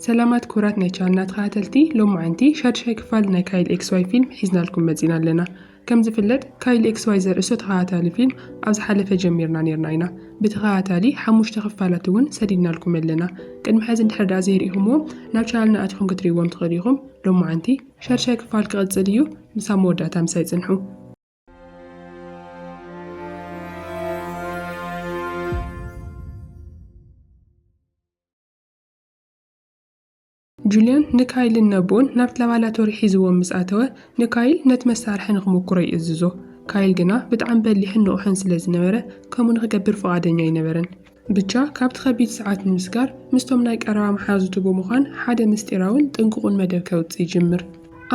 ሰላማት ክቡራት ናይ ቻናልና ተኸታተልቲ ሎማዓንቲ ሻድሻይ ክፋል ናይ ካይል ኤክስ ዋይ ፊልም ሒዝናልኩም መጺና ኣለና ከም ዝፍለጥ ካይል ኤክስ ዋይ ዘርእስቶ ተኸታታሊ ፊልም ኣብ ዝሓለፈ ጀሚርና ኔርና ኢና ብተኸታታሊ ሓሙሽተ ክፋላት እውን ሰዲድናልኩም ኣለና ቅድሚ ሕዚ እንድሕር ደኣ ዘይርኢኹምዎም ናብ ቻናልና ኣቲኹም ክትርእይዎም ትኽእሉ ኢኹም ሎማዓንቲ ሻድሻይ ክፋል ክቕጽል እዩ ምሳብ መወዳእታ ምሳይ ጽንሑ ጁልያን ንካይልን ነቦኡን ናብቲ ላባላቶሪ ሒዝዎም ምስ ኣተወ፣ ንካይል ነቲ መሳርሒ ንኽምኩሮ ይእዝዞ። ካይል ግና ብጣዕሚ በሊሕን ንቑሕን ስለ ዝነበረ፣ ከምኡ ንኽገብር ፍቓደኛ ኣይነበረን። ብቻ ካብቲ ከቢድ ሰዓት ንምስጋር፣ ምስቶም ናይ ቀረባ መሓዙቱ ብምዃን ሓደ ምስጢራውን ጥንቁቑን መደብ ከውጽእ ይጅምር።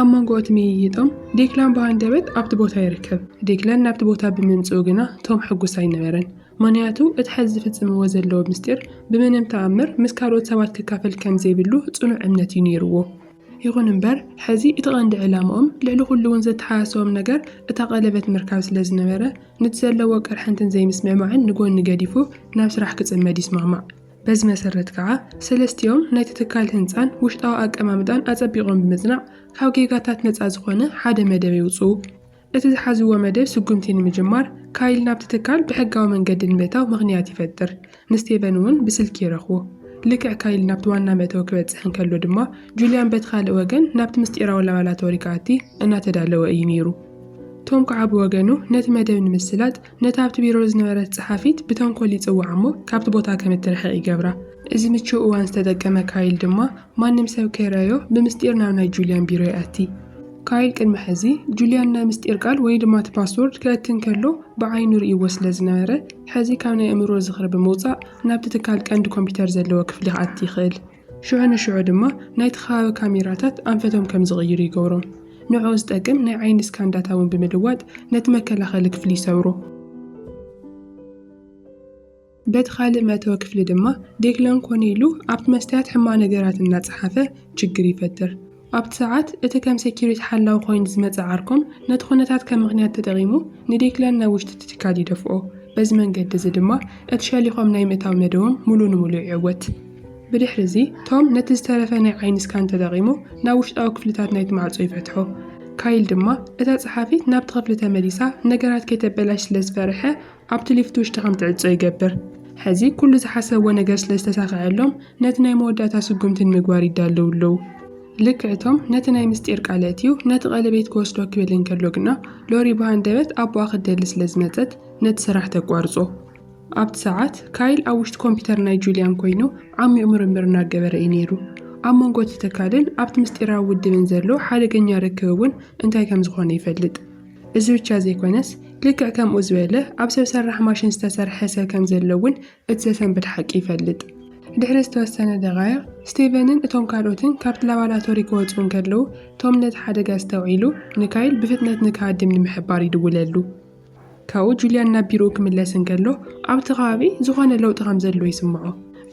ኣብ መንጎ እቲ ምይይጦም፣ ዴክላን ብሃንደበት ኣብቲ ቦታ ይርከብ። ዴክላን ናብቲ ቦታ ብምምጽኡ ግና ቶም ሕጉስ ኣይነበረን። ምኽንያቱ እቲ ሐዚ ዝፍጽምዎ ዘለዉ ምስጢር ብምንም ተኣምር ምስ ካልኦት ሰባት ክካፈል ከም ዘይብሉ ጽኑዕ እምነት እዩ ነይርዎ። ይኹን እምበር ሐዚ እቲ ቀንዲ ዕላምኦም ልዕሊ ኩሉ'ውን ዘተሓሳስቦም ነገር እታ ቀለበት ምርካብ ስለ ዝነበረ ንቲ ዘለዎ ቅርሕንትን ዘይምስምዕማዕን ንጎኒ ገዲፉ ናብ ስራሕ ክጽመድ ይስማማዕ። በዚ መሰረት ከኣ ሰለስቲኦም ናይቲ ትካል ህንጻን ውሽጣዊ ኣቀማምጣን ኣጸቢቖም ብምጽናዕ ካብ ጌጋታት ነጻ ዝኾነ ሓደ መደብ የውጽኡ። እቲ ዝሓዝዎ መደብ ስጉምቲ ንምጅማር፣ ካይል ናብቲ ትካል ብሕጋዊ መንገዲ ንምእታው ምኽንያት ይፈጥር። ንስቴቨን እውን ብስልኪ ይረኽቦ። ልክዕ ካይል ናብቲ ዋና መእተዊ ክበጽሕ እንከሎ ድማ፣ ጁልያን በቲ ካልእ ወገን ናብቲ ምስጢራዊ ላባላቶሪ ክኣቲ እናተዳለወ እዩ ነይሩ። ቶም ከኣ ብወገኑ ነቲ መደብ ንምስላጥ፣ ነታ ኣብቲ ቢሮ ዝነበረት ጸሓፊት ብተንኰል ይጽውዓ እሞ ካብቲ ቦታ ከም እትርሕቕ ይገብራ። እዚ ምቹእ እዋን ዝተጠቀመ ካይል ድማ ማንም ሰብ ከይረኣዮ ብምስጢር ናብ ናይ ጁልያን ቢሮ ይኣቲ። ካይል ቅድሚ ሕዚ ጁልያን ናይ ምስጢር ቃል ወይ ድማ እቲ ፓስዎርድ ከእቲ እንከሎ ብዓይኑ ርእይዎ ስለ ዝነበረ፣ ሕዚ ካብ ናይ ኣእምሮ ዝኽሪ ብምውጻእ ናብቲ ትካል ቀንዲ ኮምፒዩተር ዘለዎ ክፍሊ ክኣቲ ይኽእል። ሽዑ ንሽዑ ድማ ናይቲ ከባቢ ካሜራታት ኣንፈቶም ከም ዝቕይሩ ይገብሮም። ንዕኡ ዝጠቅም ናይ ዓይኒ ስካን ዳታ እውን ብምልዋጥ ነቲ መከላኸሊ ክፍሊ ይሰብሮ። በቲ ካልእ መእተዊ ክፍሊ ድማ ዴክለን ኮነ ኢሉ ኣብቲ መስትያት ሕማቕ ነገራት እናጸሓፈ ችግር ይፈጥር። ኣብቲ ሰዓት፣ እቲ ከም ሰኪሪቲ ሓላዊ ኮይኑ ዝመጸ ዓርኮም ነቲ ኩነታት ከም ምኽንያት ተጠቒሙ ንዴክለን ናብ ውሽጢ እቲ ትካል ይደፍኦ። በዚ መንገዲ እዚ ድማ እቲ ሸሊኾም ናይ ምእታው መደቦም ምሉእ ንምሉእ ይዕወት። ብድሕሪ እዚ፣ ቶም ነቲ ዝተረፈ ናይ ዓይኒ ስካን ተጠቒሙ ናብ ውሽጣዊ ክፍልታት ናይቲ ማዕጾ ይፈትሖ። ካይል ድማ እታ ጸሓፊት ናብቲ ክፍሊ ተመሊሳ ነገራት ከይተበላሽ ስለ ዝፈርሐ፣ ኣብቲ ሊፍት ውሽጢ ከም ትዕጾ ይገብር። ሕዚ ኩሉ ዝሓሰብዎ ነገር ስለ ዝተሳኸዐሎም ነቲ ናይ መወዳእታ ስጉምቲ ንምግባር ይዳለዉ ኣለዉ። ልክዕ እቶም ነቲ ናይ ምስጢር ቃል ኣእትዩ ነቲ ቀለቤት ክወስዶ ክብል እንከሎ ግና ሎሪ ብሃንደበት ኣቦኣ ክትደሊ ስለ ዝመጸት ነቲ ስራሕ ተቋርጾ። ኣብቲ ሰዓት ካይል ኣብ ውሽጢ ኮምፒተር ናይ ጁልያን ኮይኑ ዓሚቕ ምርምር እናገበረ እዩ ነይሩ። ኣብ መንጎ እቲ ትካልን ኣብቲ ምስጢራዊ ውድብን ዘሎ ሓደገኛ ርክብ እውን እንታይ ከም ዝኾነ ይፈልጥ። እዚ ብቻ ዘይኮነስ ልክዕ ከምኡ ዝበለ ኣብ ሰብ ሰራሕ ማሽን ዝተሰርሐ ሰብ ከም ዘሎ እውን እቲ ዘሰንብድ ሓቂ ይፈልጥ። ድሕሪ ዝተወሰነ ደቓይቕ፣ ስቲቨንን እቶም ካልኦትን ካብቲ ላባራቶሪ ክወጹ እንከለዉ፣ ቶም ነቲ ሓደጋ ኣስተውዒሉ ንካይል ብፍጥነት ንክሃድም ንምሕባር ይድውለሉ። ካብኡ ጁልያን ናብ ቢሮኡ ክምለስ እንከሎ ኣብቲ ከባቢ ዝኾነ ለውጢ ከም ዘሎ ይስምዖ።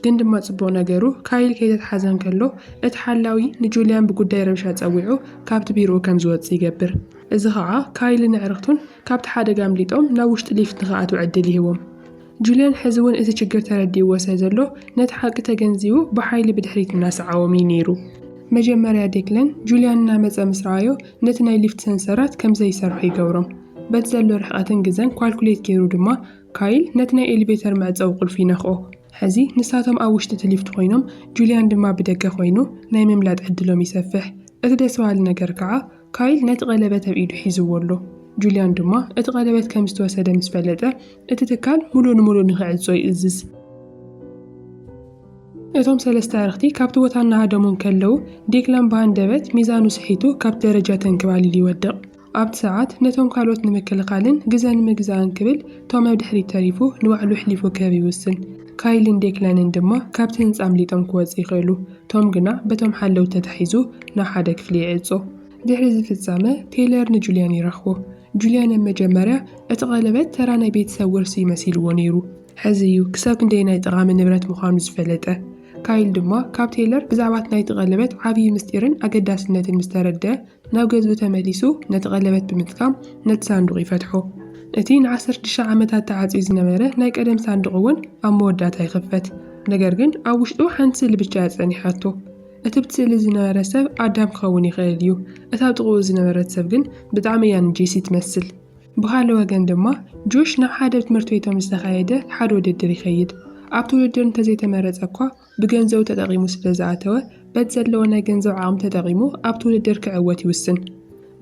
ግን ድማ ጽቡቕ ነገሩ ካይል ከይተትሓዘ እንከሎ እቲ ሓላዊ ንጁልያን ብጉዳይ ረብሻ ጸዊዑ ካብቲ ቢሮኡ ከም ዝወጽእ ይገብር። እዚ ኸኣ ካይልን ኣዕርኽቱን ካብቲ ሓደጋ ኣምሊጦም ናብ ውሽጢ ሊፍት ንኽኣትዉ ዕድል ይህቦም። ጁልያን ሕዚ እውን እቲ ችግር ተረዲእዎ ስለ ዘሎ ነቲ ሓቂ ተገንዚቡ ብሓይሊ ብድሕሪት እናሰዓቦም እዩ ነይሩ። መጀመርያ ዴክለን ጁልያን እናመጸ ምስ ረኣዮ ነቲ ናይ ሊፍት ሰንሰራት ከም ዘይሰርሑ ይገብሮም። በቲ ዘሎ ርሕቐትን ግዘን ኳልኩሌት ገይሩ ድማ ካይል ነቲ ናይ ኤሊቬተር መዕጸዊ ቁልፊ ይነኽኦ። ሕዚ ንሳቶም ኣብ ውሽጢ እቲ ሊፍት ኮይኖም ጁልያን ድማ ብደገ ኮይኑ ናይ ምምላጥ ዕድሎም ይሰፍሕ። እቲ ደስ በሃሊ ነገር ከኣ ካይል ነቲ ቀለበት ኣብ ኢዱ ሒዝዎ ኣሎ፣ ጁልያን ድማ እቲ ቀለበት ከም ዝተወሰደ ምስ ፈለጠ፣ እቲ ትካል ምሉእ ንምሉእ ንኽዕጾ ይእዝዝ። እቶም ሰለስተ ኣዕርኽቲ ካብቲ ቦታ እናሃደሙ እንከለዉ፣ ዴክላን ብሃንደበት ሚዛኑ ስሒቱ ካብቲ ደረጃ ተንክባሊሉ ይወድቕ። ኣብቲ ሰዓት ነቶም ካልኦት ንምክልኻልን ግዘ ንምግዛእን ክብል ቶም ኣብ ድሕሪት ተሪፉ ንባዕሉ ኣሕሊፉ ክህብ ይውስን። ካይልን ዴክላንን ድማ ካብቲ ህንጻ ኣምሊጦም ክወጹ ይኽእሉ። ቶም ግና በቶም ሓለውቲ ተታሒዙ ናብ ሓደ ክፍሊ ይዕጾ። ድሕሪ እዚ ፍጻመ፣ ቴይለር ንጁልያን ይረኽቦ። ጁልያን ኣብ መጀመርያ፣ እቲ ቀለበት ተራ ናይ ቤተሰብ ውርሲ እዩ መሲልዎ ነይሩ። ሕዚ እዩ ክሳብ ክንደየናይ ጠቓሚ ንብረት ምዃኑ ዝፈለጠ። ካይል ድማ ካብ ቴይለር ብዛዕባ እቲ ናይቲ ቀለበት ዓብዪ ምስጢርን ኣገዳስነትን ምስ ተረድኣ፣ ናብ ገዝኡ ተመሊሱ ነቲ ቀለበት ብምጥቃም ነቲ ሳንዱቕ ይፈትሖ። እቲ ንዓሰርተ ሽዱሽተ ዓመታት ተዓጽዩ ዝነበረ ናይ ቀደም ሳንዱቕ እውን ኣብ መወዳእታ ይኽፈት። ነገር ግን ኣብ ውሽጡ ሓንቲ ስእሊ ብቻ እያ ጸኒሓቶ። እቲ ኣብቲ ስእሊ ዝነበረ ሰብ ኣዳም ክኸውን ይኽእል እዩ፣ እታ ኣብ ጥቕኡ ዝነበረት ሰብ ግን ብጣዕሚ እያ ንጄሲ ትመስል። ብኻልእ ወገን ድማ ጆሽ ናብ ሓደ ኣብ ትምህርት ቤቶም ዝተኻየደ ሓደ ውድድር ይኸይድ። ኣብቲ ውድድር እንተዘይተመረጸ እኳ ብገንዘቡ ተጠቒሙ ስለ ዝኣተወ፣ በቲ ዘለዎ ናይ ገንዘብ ዓቕሚ ተጠቒሙ ኣብቲ ውድድር ክዕወት ይውስን።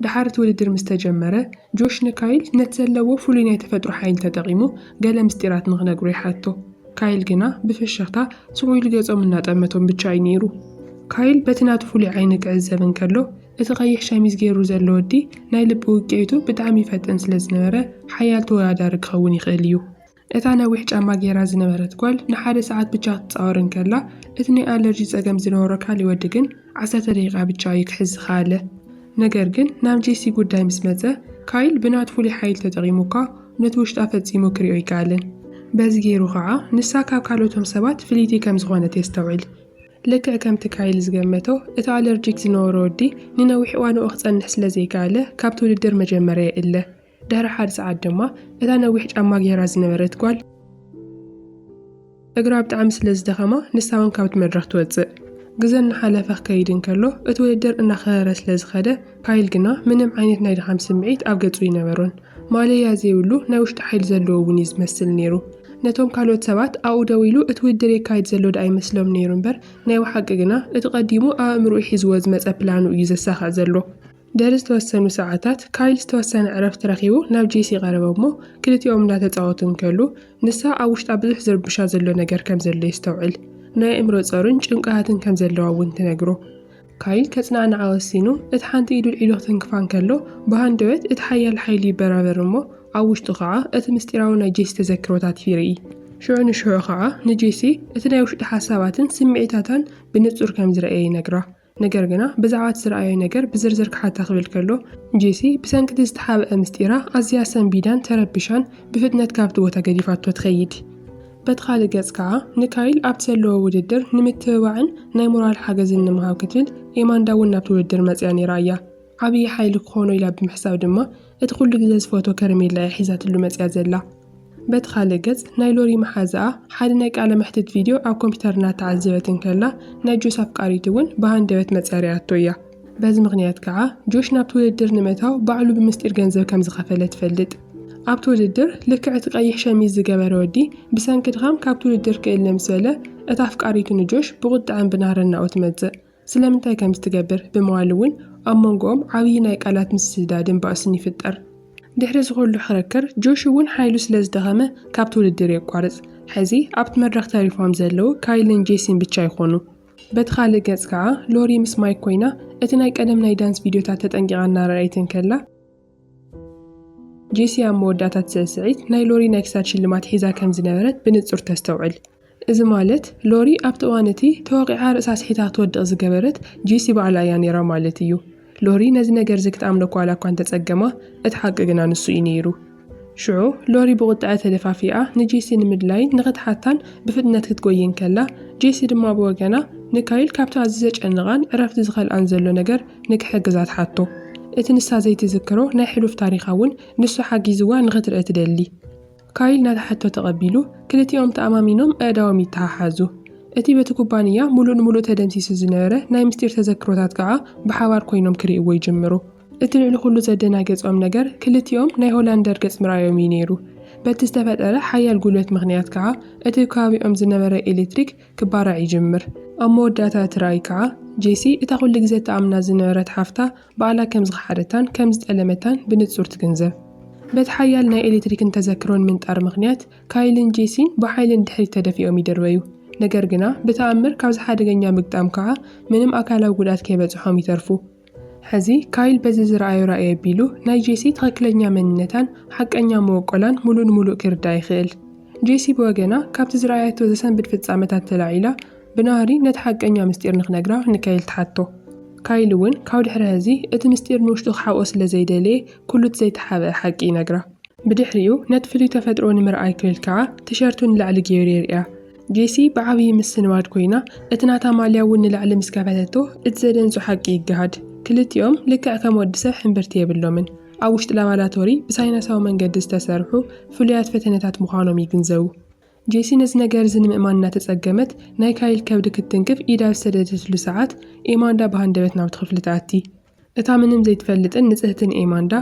ደሓር እቲ ውድድር ምስ ተጀመረ፣ ጆሽ ንካይል ነቲ ዘለዎ ፍሉይ ናይ ተፈጥሮ ሓይሊ ተጠቒሙ ገለ ምስጢራት ንኽነግሮ ይሓቶ። ካይል ግና ብፍሽኽታ ስቕ ኢሉ ገጾም እናጠመቶም ብቻ እዩ ነይሩ። ካይል በቲ ናቱ ፍሉይ ዓይኒ ክዕዘብ እንከሎ፣ እቲ ቀይሕ ሸሚዝ ገይሩ ዘሎ ወዲ ናይ ልቢ ውቅዒቱ ብጣዕሚ ይፈጥን ስለ ዝነበረ ሓያል ተወዳዳሪ ክኸውን ይኽእል እዩ። እታ ነዊሕ ጫማ ገይራ ዝነበረት ጓል ንሓደ ሰዓት ብቻ ክትጻወር እንከላ፣ እቲ ናይ ኣለርጂ ጸገም ዝነበሮ ካልእ ወዲ ግን ዓሰርተ ደቂቃ ብቻ እዩ ክሕዝ ዝኸኣለ። ነገር ግን ናብ ጄሲ ጉዳይ ምስ መጸ፣ ካይል ብናቱ ፍሉይ ሓይሊ ተጠቂሙ እኳ ነቲ ውሽጣ ፈጺሙ ክሪኦ ኣይከኣለን። በዚ ገይሩ ከኣ ንሳ ካብ ካልኦቶም ሰባት ፍልይቲ ከም ዝኾነት የስተውዕል። ልክዕ ከምቲ ካይል ዝገመቶ፣ እቲ ኣለርጂክ ዝነበሮ ወዲ ንነዊሕ እዋን ኣብኡ ክጸንሕ ስለ ዘይከኣለ ካብቲ ውድድር መጀመርያ ይእለ። ድሕሪ ሓደ ሰዓት ድማ እታ ነዊሕ ጫማ ገይራ ዝነበረት ጓል እግራ ብጣዕሚ ስለ ዝደኸማ ንሳ እውን ካብቲ መድረኽ ትወፅእ። ግዘ እናሓለፈ ክከይድ እንከሎ እቲ ውድድር እናኸረረ ስለ ዝኸደ ካይል ግና ምንም ዓይነት ናይ ድኻም ስምዒት ኣብ ገፁ ኣይነበሮን። ማለያ ዘይብሉ ናይ ውሽጢ ሓይሊ ዘለዎ እውን እዩ ዝመስል ነይሩ። ነቶም ካልኦት ሰባት ኣብኡ ደው ኢሉ እቲ ውድድር የካይድ ዘሎ ደኣ ይመስሎም ነይሩ እምበር ናይ ብሓቂ ግና እቲ ቀዲሙ ኣብ ኣእምርኡ ሒዝዎ ዝመፀ ፕላኑ እዩ ዘሳኽዕ ዘሎ። ድሕሪ ዝተወሰኑ ሰዓታት፣ ካይል ዝተወሰነ ዕረፍቲ ረኺቡ ናብ ጄሲ ቀረበ እሞ ክልቲኦም እንዳተጻወቱ እንከሉ ንሳ ኣብ ውሽጣ ብዙሕ ዝርብሻ ዘሎ ነገር ከም ዘሎ የስተውዕል። ናይ ኣእምሮ ጾርን ጭንቀሃትን ከም ዘለዋ እውን ትነግሮ። ካይል ከጽናዕንዓ ወሲኑ እቲ ሓንቲ ኢዱ ኣልዒሉ ክትንክፋ እንከሎ ብሃንደበት እቲ ሓያል ሓይሉ ይበራበር እሞ ኣብ ውሽጡ ከኣ እቲ ምስጢራዊ ናይ ጄሲ ተዘክሮታት ይርኢ። ሽዑ ንሽዑ ከኣ ንጄሲ እቲ ናይ ውሽጢ ሓሳባትን ስምዒታታን ብንጹር ከም ዝረኣየ ይነግራ። ነገር ግና ብዛዕባ እቲ ዝረኣዮ ነገር ብዝርዝር ክሓታ ክብል ከሎ፣ ጄሲ ብሰንኪ እቲ ዝተሓብኣ ምስጢራ ኣዝያ ሰንቢዳን ተረቢሻን ብፍጥነት ካብቲ ቦታ ገዲፋቶ ትኸይድ። በቲ ካልእ ገጽ ከኣ፣ ንካይል ኣብቲ ዘለዎ ውድድር ንምትብባዕን ናይ ሞራል ሓገዝን ንምሃብ ክትብል ኤማንዳ እውን ናብቲ ውድድር መጺኣ ነይራ እያ። ዓብዪ ሓይሊ ክኾኖ ኢላ ብምሕሳብ ድማ እቲ ኩሉ ግዘ ዝፈትዎ ከረሜላ እያ ሒዛትሉ መጺኣ ዘላ። በቲ ኻልእ ገጽ፣ ናይ ሎሪ መሓዛኣ ሓደ ናይ ቃለ መሕትት ቪድዮ ኣብ ኮምፒተር እናተዓዘበት እንከላ ናይ ጆስ ኣፍቃሪት እውን ብሃንደበት መጺኣ ሪኣቶ እያ። በዚ ምኽንያት ከኣ ጆሽ ናብቲ ውድድር ንምእታው ባዕሉ ብምስጢር ገንዘብ ከም ዝኸፈለ ትፈልጥ። ኣብቲ ውድድር ልክዕ እቲ ቀይሕ ሸሚዝ ዝገበረ ወዲ ብሰንኪ ድኻም ካብቲ ውድድር ክእለ ምስ በለ እታ ኣፍቃሪቱ ንጆሽ ብቑጠዐን ብናህረን ናብኡ ትመጽእ። ስለምንታይ ከምዚ ትገብር ብምባል እውን ኣብ መንጎኦም ዓብዪ ናይ ቃላት ምስስዳድን ባእስን ይፍጠር። ድሕሪ እዚ ኹሉ ኽርክር ጆሽ እውን ሓይሉ ስለ ዝደኸመ ካብቲ ውድድር የቋርፅ። ሕዚ ኣብቲ መድረኽ ተሪፎም ዘለዉ ካይልን ጄሲን ብቻ ይኾኑ። በቲ ኻልእ ገፅ ከዓ ሎሪ ምስ ማይክ ኮይና እቲ ናይ ቀደም ናይ ዳንስ ቪድዮታት ተጠንቂቓ እናረኣየት እንከላ፣ ጄሲ ኣብ መወዳእታ እቲ ስዕስዒት ናይ ሎሪ ናይ ክሳድ ሽልማት ሒዛ ከም ዝነበረት ብንጹር ተስተውዕል። እዚ ማለት ሎሪ ኣብቲ እዋን እቲ ተወቒዓ ርእሳ ስሒታ ክትወድቕ ዝገበረት ጄሲ ባዕላ እያ ነይራ ማለት እዩ። ሎሪ ነዚ ነገር እዚ ክትኣምኖ ዋላ እኳ እንተ ጸገማ፣ እቲ ሓቂ ግና ንሱ እዩ ነይሩ። ሽዑ ሎሪ ብቝጥዐ ተደፋፊኣ ንጄሲ ንምድላይን ንኽትሓታን ብፍጥነት ክትጐዪ እንከላ፣ ጄሲ ድማ ብወገና ንካይል ካብቲ ኣዝዩ ዘጨንቓን ዕረፍቲ ዝኸልኣን ዘሎ ነገር ንክሕግዛ ትሓቶ። እቲ ንሳ ዘይትዝክሮ ናይ ሕሉፍ ታሪኻ እውን ንሱ ሓጊዝዋ ንክትርኢ ትደሊ። ካይል ነታ ሕቶ ተቐቢሉ፣ ክልቲኦም ተኣማሚኖም ኣእዳዎም ይተሓሓዙ። እቲ በቲ ኩባንያ ምሉእ ንምሉእ ተደምሲሱ ዝነበረ ናይ ምስጢር ተዘክሮታት ከኣ ብሓባር ኮይኖም ክርእይዎ ይጅምሩ። እቲ ልዕሊ ኩሉ ዘደናገጾም ነገር ክልቲኦም ናይ ሆላንደር ገጽ ምርኣዮም እዩ ነይሩ። በቲ ዝተፈጠረ ሓያል ጉልበት ምኽንያት ከኣ እቲ ኣብ ከባቢኦም ዝነበረ ኤለትሪክ ክባራዕ ይጅምር። ኣብ መወዳእታ እቲ ራእይ ከኣ፣ ጄሲ እታ ኩሉ ግዜ እትኣምና ዝነበረት ሓፍታ ባዕላ ከም ዝኸሓደታን ከም ዝጠለመታን ብንጹር ትግንዘብ። በቲ ሓያል ናይ ኤሌክትሪክን ተዘክሮን ምንጣር ምኽንያት፣ ካይልን ጄሲን ብሓይሊ ንድሕሪት ተደፊኦም ይድርበዩ። ነገር ግና፣ ብተኣምር ካብዚ ሓደገኛ ምግጣም ከኣ ምንም ኣካላዊ ጉድኣት ከይበጽሖም ይተርፉ። ሕዚ ካይል በዚ ዝረኣዮ ራኢ ኣቢሉ ናይ ጄሲ ትኽክለኛ መንነታን ሓቀኛ መወቆላን ሙሉእ ንሙሉእ ክርዳእ ይኽእል። ጄሲ ብወገና ካብቲ ዝረኣየቶ ዘሰንብድ ፍጻመታት ተላዒላ ብናህሪ ነቲ ሓቀኛ ምስጢር ንክነግራ ንካይል ትሓቶ። ካይል እውን ካብ ድሕሪ ሐዚ እቲ ምስጢር ንውሽጡ ክሓብኦ ስለዘይደለየ ኩሉ እቲ ዘይተሓብኣ ሓቂ ይነግራ። ብድሕሪኡ ነቲ ፍሉይ ተፈጥሮኡ ንምርኣይ ክብል ከዓ ቲሸርቱ ንላዕሊ ገይሩ የርእያ። ጄሲ ብዓብዪ ምስንባድ ኮይና እቲ ናታ ማልያ እውን ንላዕሊ ምስ ከፈተቶ እቲ ዘደንጹ ሓቂ ይገሃድ። ክልቲኦም ልክዕ ከም ወዲ ሰብ ሕምብርቲ የብሎምን። ኣብ ውሽጢ ላባራቶሪ ብሳይነሳዊ መንገዲ ዝተሰርሑ ፍሉያት ፈተነታት ምዃኖም ይግንዘቡ። ጄሲ ነዚ ነገር እዚ ንምእማን እናተጸገመት ናይ ካይል ከብዲ ክትትንክፍ ኢዳ ኣብ ዝሰደደትሉ ሰዓት፣ ኤማንዳ ብሃንደበት ናብቲ ክፍሊ ትኣቲ። እታ ምንም ዘይትፈልጥን ንጽህትን ኤማንዳ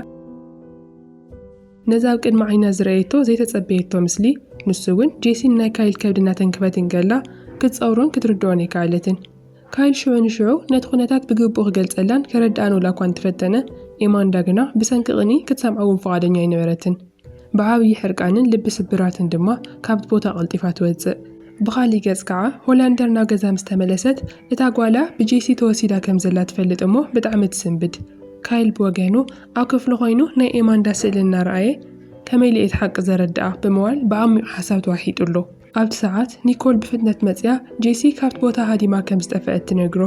ነዚ ኣብ ቅድሚ ዓይና ዝረኣየቶ ዘይተጸበየቶ ምስሊ ንሱ እውን ጄሲን ናይ ካይል ከብዲ እናተንክፈት እንከላ ክትጸውሮን ክትርድኦን ኣይከኣለትን። ካይል ሽዑ ንሽዑ ነቲ ኩነታት ብግቡእ ክገልጸላን ከረድኣን ወላ እኳ እንተፈተነ፣ ኤማንዳ ግና ብሰንኪ ቅንኢ ክትሰምዖ እውን ፍቓደኛ ኣይነበረትን። ብዓብዪ ሕርቃንን ልቢ ስብራትን ድማ ካብቲ ቦታ ቀልጢፋ ትወጽእ። ብኻልእ ገጽ ከኣ ሆላንደር ናብ ገዛ ምስ ተመለሰት እታ ጓላ ብጄሲ ተወሲዳ ከም ዘላ ትፈልጥ እሞ ብጣዕሚ ትስንብድ። ካይል ብወገኑ ኣብ ክፍሉ ኮይኑ ናይ ኤማንዳ ስእሊ እናረኣየ ከመይ ኢለ እየ እቲ ሓቂ ዘረድኣ ብምባል ብዓሚቝ ሓሳብ ተዋሒጡ ኣሎ። ኣብቲ ሰዓት ኒኮል ብፍጥነት መጺኣ ጄሲ ካብቲ ቦታ ሃዲማ ከም ዝጠፈኣት ትነግሮ።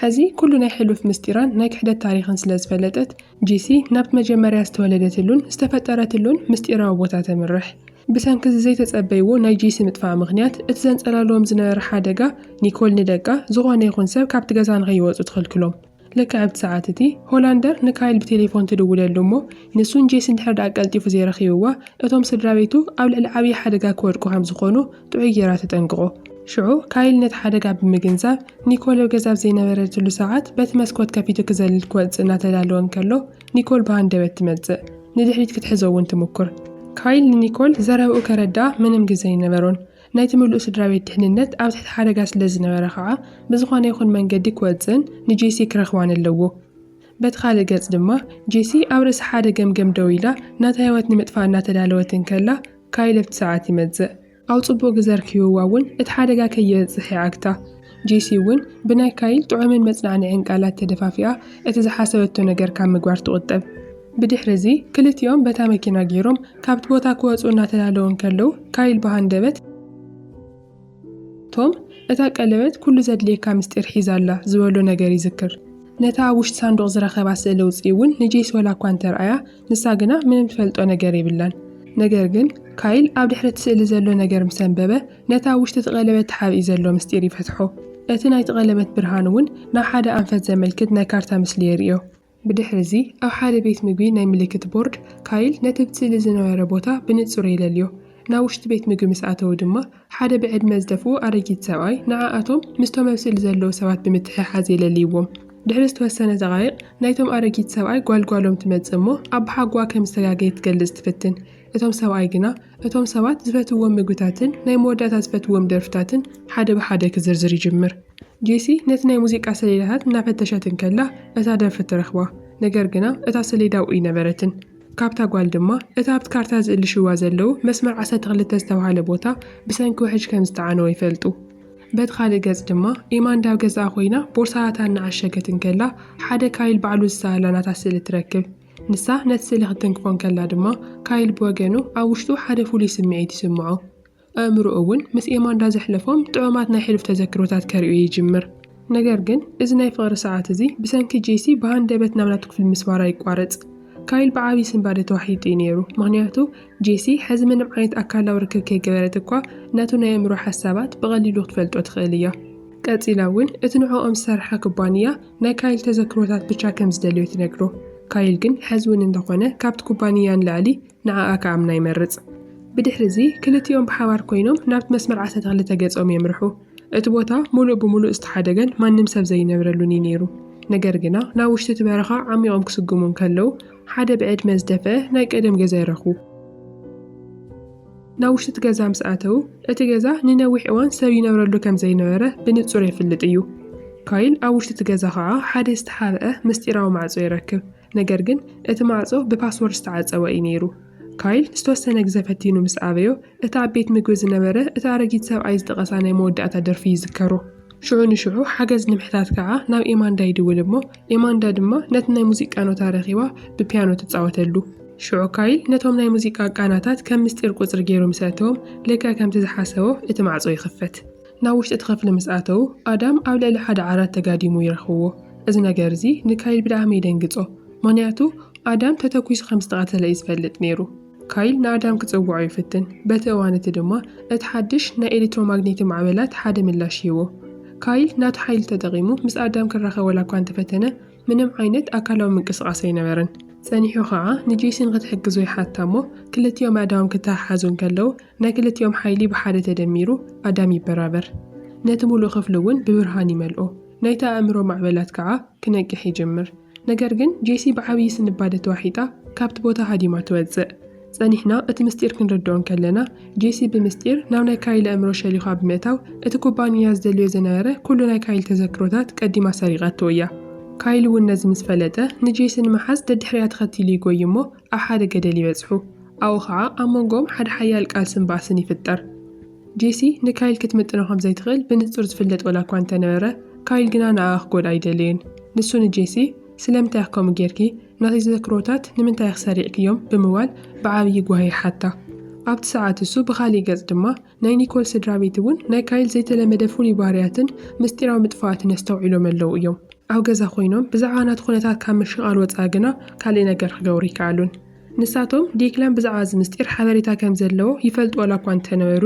ሕዚ ኩሉ ናይ ሕሉፍ ምስጢራን ናይ ክሕደት ታሪኽን ስለ ዝፈለጠት ጂሲ ናብቲ መጀመርያ ዝተወለደትሉን ዝተፈጠረትሉን ምስጢራዊ ቦታ ተምርሕ። ብሰንኪ እዚ ዘይተጸበይዎ ናይ ጂሲ ምጥፋእ ምኽንያት፣ እቲ ዘንጸላልዎም ዝነበረ ሓደጋ፣ ኒኮል ንደቃ ዝኾነ ይኹን ሰብ ካብቲ ገዛ ንኸይወጹ ትኽልክሎም። ልክዕ ኣብቲ ሰዓት እቲ፣ ሆላንደር ንካይል ብቴሌፎን ትድውለሉ እሞ፣ ንሱን ጄሲን ድሕሪ ደኣ ቀልጢፉ ዘይረኺብዋ፣ እቶም ስድራቤቱ ኣብ ልዕሊ ዓብዪ ሓደጋ ክወድቁ ከም ዝኾኑ፣ ጥዑይ ገይራ ተጠንቅቖ። ሽዑ ካይል ነቲ ሓደጋ ብምግንዛብ፣ ኒኮል ኣብ ገዛ ኣብ ዘይነበረትሉ ሰዓት በቲ መስኮት ከፊቱ ክዘልል ክወጽእ እናተዳለወ እንከሎ ኒኮል ብሃንደበት ትመጽእ። ንድሕሪት ክትሕዞ እውን ትሙኩር። ካይል ንኒኮል ዘረባኡ ከረድኣ ምንም ግዜ ኣይነበሮን። ናይቲ ምሉእ ስድራቤት ድሕንነት ኣብ ትሕቲ ሓደጋ ስለ ዝነበረ ኸኣ ብዝኾነ ይኹን መንገዲ ክወጽእን ንጄሲ ክረኽባን ኣለዎ። በቲ ካልእ ገጽ ድማ ጄሲ ኣብ ርእሲ ሓደ ገምገም ደው ኢላ ናታ ህይወት ንምጥፋእ እናተዳለወት እንከላ ካይ ለብቲ ሰዓት ይመጽእ ኣው ጽቡቅ ግዘ ርኪብዋ ውን እቲ ሓደጋ ከይበጽሕ ይዓግታ ጄሲ ውን ብናይ ካይ ጥዑምን መጽናዕንዕን ቃላት ተደፋፊኣ እቲ ዝሓሰበቶ ነገር ካብ ምግባር ትቁጠብ ብድሕሪ እዚ ክልቲኦም በታ መኪና ጌሮም ካብቲ ቦታ ክወጹ እናተዳለዉ እንከለዉ ካይል ብሃንደበት ቶም፣ እታ ቀለበት ኵሉ ዘድልየካ ምስጢር ሒዛ ኣላ ዝበሎ ነገር ይዝክር። ነታ ኣብ ውሽጢ ሳንዱቕ ዝረኸባ ስእሊ ኣውጽኡ እውን ንጄሲ ዋላ እኳ እንተ ርኣያ፣ ንሳ ግና ምንም ትፈልጦ ነገር የብላን። ነገር ግን፣ ካይል ኣብ ድሕሪ እቲ ስእሊ ዘሎ ነገር ምስ ኣንበበ፣ ነቲ ኣብ ውሽጢ እቲ ቀለበት ተሓቢኡ ዘሎ ምስጢር ይፈትሖ። እቲ ናይቲ ቀለበት ብርሃን እውን ናብ ሓደ ኣንፈት ዘመልክት ናይ ካርታ ምስሊ የርእዮ። ብድሕሪዚ ኣብ ሓደ ቤት ምግቢ ናይ ምልክት ቦርድ፣ ካይል ነቲ ብ ስእሊ ዝነበረ ቦታ ብንጹር የለልዮ። ናብ ውሽጢ ቤት ምግቢ ምስ ኣተዉ ድማ፣ ሓደ ብዕድመ ዝደፍኡ ኣረጊት ሰብኣይ ንዓኣቶም ምስቶም ኣብ ስእሊ ዘለዉ ሰባት ብምትሕሓዝ የለልይዎም። ድሕሪ ዝተወሰነ ደቓይቕ፣ ናይቶም ኣረጊት ሰብኣይ ጓል ጓሎም ትመጽእ እሞ፣ ኣባሓጎኣ ከም ዝተጋገየ ክትገልጽ ትፍትን። እቶም ሰብኣይ ግና እቶም ሰባት ዝፈትውዎም ምግብታትን ናይ መወዳእታ ዝፈትውዎም ደርፍታትን ሓደ ብሓደ ክዝርዝር ይጅምር። ጄሲ ነቲ ናይ ሙዚቃ ሰሌዳታት እናፈተሸት እንከላ እታ ደርፊ ትረኽባ፣ ነገር ግና እታ ሰሌዳ ኣብኡ ኣይነበረትን። ካብታ ጓል ድማ እቲ ኣብቲ ካርታ ዝእልሽዋ ዘለዉ መስመር ዓሰርተ ክልተ ዝተባህለ ቦታ ብሰንኪ ውሕጅ ከም ዝተዓነወ ይፈልጡ። በቲ ካልእ ገጽ ድማ ኢማንዳ ኣብ ገዛኣ ኮይና ቦርሳታታ እናዓሸገት እንከላ ሓደ ካይል ባዕሉ ዝሰኣላ ናታ ስእሊ ትረክብ። ንሳ ነቲ ስእሊ ክትትንክፎ እንከላ ድማ፣ ካይል ብወገኑ ኣብ ውሽጡ ሓደ ፍሉይ ስምዒት ይስምዖ። ኣእምሮኡ እውን ምስ ኤማንዳ ዘሕለፎም ጥዑማት ናይ ሕሉፍ ተዘክሮታት ከርእዮ ይጅምር። ነገር ግን እዚ ናይ ፍቕሪ ሰዓት እዚ ብሰንኪ ጄሲ ብሃንደበት ናብ ናቱ ክፍሊ ምስፋራ ይቋረጽ። ካይል ብዓብዪ ስንባደ ተዋሒጡ እዩ ነይሩ፣ ምኽንያቱ ጄሲ ሕዚ ምንም ዓይነት ኣካላዊ ርክብ ከይገበረት እኳ ነቱ ናይ ኣእምሮ ሓሳባት ብቐሊሉ ክትፈልጦ ትኽእል እያ። ቀጺላ እውን እቲ ንዕኦም ዝሰርሓ ኩባንያ ናይ ካይል ተዘክሮታት ብቻ ከም ዝደልዮ ትነግሮ ካይል ግን ሐዚ ውን እንተኾነ ካብቲ ኩባንያ ንላዕሊ ንዓኣ ክኣምና ይመርፅ ብድሕሪ እዚ ክልቲኦም ብሓባር ኮይኖም ናብቲ መስመር ዓሳ ተኽሊ ተገፆም የምርሑ እቲ ቦታ ሙሉእ ብሙሉእ ዝተሓደገን ማንም ሰብ ዘይነብረሉን እዩ ነይሩ ነገር ግና ናብ ውሽጢ እቲ በረኻ ዓሚቖም ክስጉሙ እንከለው ሓደ ብዕድመ ዝደፈአ ናይ ቀደም ገዛ ይረኽቡ ናብ ውሽጢ እቲ ገዛ ምስ ኣተዉ፣ እቲ ገዛ ንነዊሕ እዋን ሰብ ይነብረሉ ከም ዘይነበረ ብንጹር የፍልጥ እዩ። ካይል ኣብ ውሽጢ እቲ ገዛ ኸኣ ሓደ ዝተሓብአ ምስጢራዊ ማዕጾ ይረክብ፣ ነገር ግን እቲ ማዕጾ ብፓስወርድ ዝተዓጸወ እዩ ነይሩ። ካይል ዝተወሰነ ግዘ ፈቲኑ ምስ ኣበዮ፣ እቲ ኣብ ቤት ምግቢ ዝነበረ እቲ ኣረጊት ሰብኣይ ዝጠቐሳ ናይ መወዳእታ ደርፊ ይዝከሮ። ሽዑ ንሽዑ ሓገዝ ንምሕታት ከኣ ናብ ኤማንዳ ይድውል እሞ፣ ኤማንዳ ድማ ነቲ ናይ ሙዚቃ ኖታ ረኺባ ብፒያኖ ትጻወተሉ። ሽዑ ካይል ነቶም ናይ ሙዚቃ ቃናታት ከም ምስጢር ቁጽሪ ገይሩ ምስ ኣእተዎም፣ ልክዕ ከምቲ ዝሓሰቦ እቲ ማዕጾ ይኽፈት። ናብ ውሽጢ እቲ ክፍሊ ምስ ኣተዉ፣ ኣዳም ኣብ ልዕሊ ሓደ ዓራት ተጋዲሙ ይረኽብዎ። እዚ ነገር እዚ ንካይል ብጣዕሚ የደንግጾ፣ ምኽንያቱ ኣዳም ተተኲሱ ከም ዝተቐተለ እዩ ዝፈልጥ ነይሩ። ካይል ንኣዳም ክጸውዖ ይፍትን፣ በቲ እዋን እቲ ድማ እቲ ሓድሽ ናይ ኤሌክትሮማግኔቲ ማዕበላት ሓደ ምላሽ ይህቦ። ካይል ናቱ ሓይሊ ተጠቒሙ ምስ ኣዳም ክራኸብ ዋላ እኳ እንተፈተነ፣ ምንም ዓይነት ኣካላዊ ምንቅስቓስ ኣይነበረን። ጸኒሑ ኸኣ ንጄሲን ክትሕግዞ ይሓታ እሞ ክልቲኦም ኣእዳዎም ክተሓሓዙ እንከለዉ ናይ ክልቲኦም ሓይሊ ብሓደ ተደሚሩ ኣዳም ይበራበር። ነቲ ምሉእ ክፍሊ እውን ብብርሃን ይመልኦ። ናይቲ ኣእምሮ ማዕበላት ከኣ ክነቅሕ ይጅምር። ነገር ግን ጄሲ ብዓብዪ ስንባደ ተዋሒጣ ካብቲ ቦታ ሃዲማ ትወጽእ። ጸኒሕና እቲ ምስጢር ክንርድኦ እንከለና፣ ጄሲ ብምስጢር ናብ ናይ ካይል ኣእምሮ ሸሊዃ ብምእታው እቲ ኩባንያ ዝደልዮ ዝነበረ ኩሉ ናይ ካይል ተዘክሮታት ቀዲማ ሰሪቓቶ እያ። ካይል እውን ነዚ ምስ ፈለጠ ንጄሲ ንምሓዝ ደድሕሪኣ ተኸቲሉ ይጎይ'ሞ፣ ኣብ ሓደ ገደል ይበጽሑ፣ ኣብኡ ኸኣ ኣብ መንጎኦም ሓደ ሓያል ቃልስን ባእስን ይፍጠር። ጄሲ ንካይል ክትምጥኖ ከም ዘይትኽእል ብንጹር ዝፍለጥ ዋላ እኳ እንተ ነበረ፣ ካይል ግና ንኣኣ ክጎድኣ ኣይደለየን። ንሱ ንጄሲ፣ ስለምንታይ ኢኺ ከምኡ ጌርኪ? ናተይ ተዘክሮታት ንምንታይ ኢኺ ሰሪዕክዮም? ብምባል ብዓብዪ ጓሂ ይሓታ። ኣብቲ ሰዓት እሱ ብኻልእ ገጽ ድማ ናይ ኒኮል ስድራቤት እውን ናይ ካይል ዘይተለመደ ፍሉይ ባህርያትን ምስጢራዊ ምጥፋኣትን ኣስተውዒሎም ኣለዉ እዮም። ኣብ ገዛ ኮይኖም ብዛዕባ ናቱ ኩነታት ካብ ምሽቓል ወጻኢ ግና ካልእ ነገር ክገብሩ ኣይከኣሉን። ንሳቶም ዴክላን ብዛዕባ እዚ ምስጢር ሓበሬታ ከም ዘለዎ ይፈልጡ ዋላ እኳ እንተነበሩ፣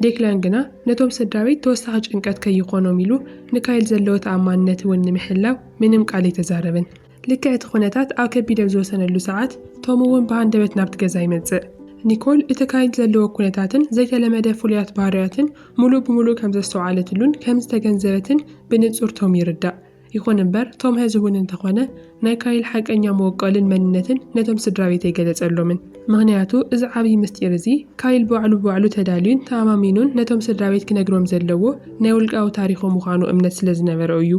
ዴክላን ግና ነቶም ስድራቤት ተወሳኺ ጭንቀት ከይኾኖም ኢሉ ንካይል ዘለዎ ተኣማንነት እውን ንምሕላው ምንም ቃል ኣይተዛረበን። ልክዕ እቲ ዅነታት ኣብ ከቢድ ኣብ ዝወሰነሉ ሰዓት፣ ቶም እውን ብሃንደበት ናብቲ ገዛ ይመጽእ። ኒኮል እቲ ካይድ ዘለዎ ኵነታትን ዘይተለመደ ፍሉያት ባህርያትን ምሉእ ብምሉእ ከም ዘስተውዓለትሉን ከም ዝተገንዘበትን ብንጹር ቶም ይርዳእ። ይኹን እምበር፣ ቶም ሕዚ እውን እንተ ዀነ ናይ ካይል ሓቀኛ መወቀልን መንነትን ነቶም ስድራቤት ኣይገለጸሎምን። ምኽንያቱ እዚ ዓብዪ ምስጢር እዚ ካይል ባዕሉ ብባዕሉ ተዳልዩን ተኣማሚኑን ነቶም ስድራቤት ክነግሮም ዘለዎ ናይ ውልቃዊ ታሪኹ ምዃኑ እምነት ስለ ዝነበሮ እዩ።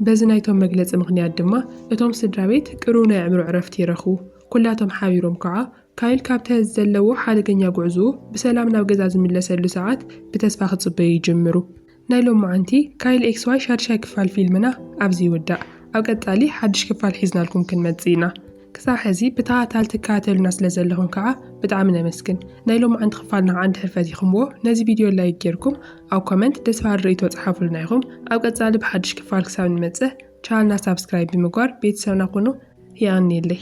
በዚ ናይቶም መግለጺ ምኽንያት ድማ እቶም ስድራቤት ቅሩብ ናይ ኣዕምሮ ዕረፍቲ ይረኽቡ። ኩላቶም ሓቢሮም ከኣ፣ ካይል ካብቲ ዘለዎ ሓደገኛ ጉዕዞኡ ብሰላም ናብ ገዛ ዝምለሰሉ ሰዓት ብተስፋ ክጽበዩ ይጅምሩ። ናይ ሎምዓንቲ ካይል ኤክስ ዋይ ሻድሻይ ክፋል ፊልምና ኣብዚ ይውዳእ። ኣብ ቀጻሊ ሓድሽ ክፋል ሒዝናልኩም ክንመጽእ ኢና። ክሳብ ሕዚ ብተሃታል ትከታተሉና ስለ ዘለኹም ከኣ ብጣዕሚ ነመስግን። ናይ ሎማዕንቲ ክፋልና ከኣ እንድሕር ፈቲኹምዎ ነዚ ቪድዮ ላይክ ጌርኩም ኣብ ኮመንት ደስ በሃሊ ርእይቶ ጸሓፉልና ኢኹም። ኣብ ቀጻሊ ብሓድሽ ክፋል ክሳብ ንመጽእ ቻነልና ሳብስክራይብ ብምግባር ቤተሰብና ኩኑ። የቐንየለይ።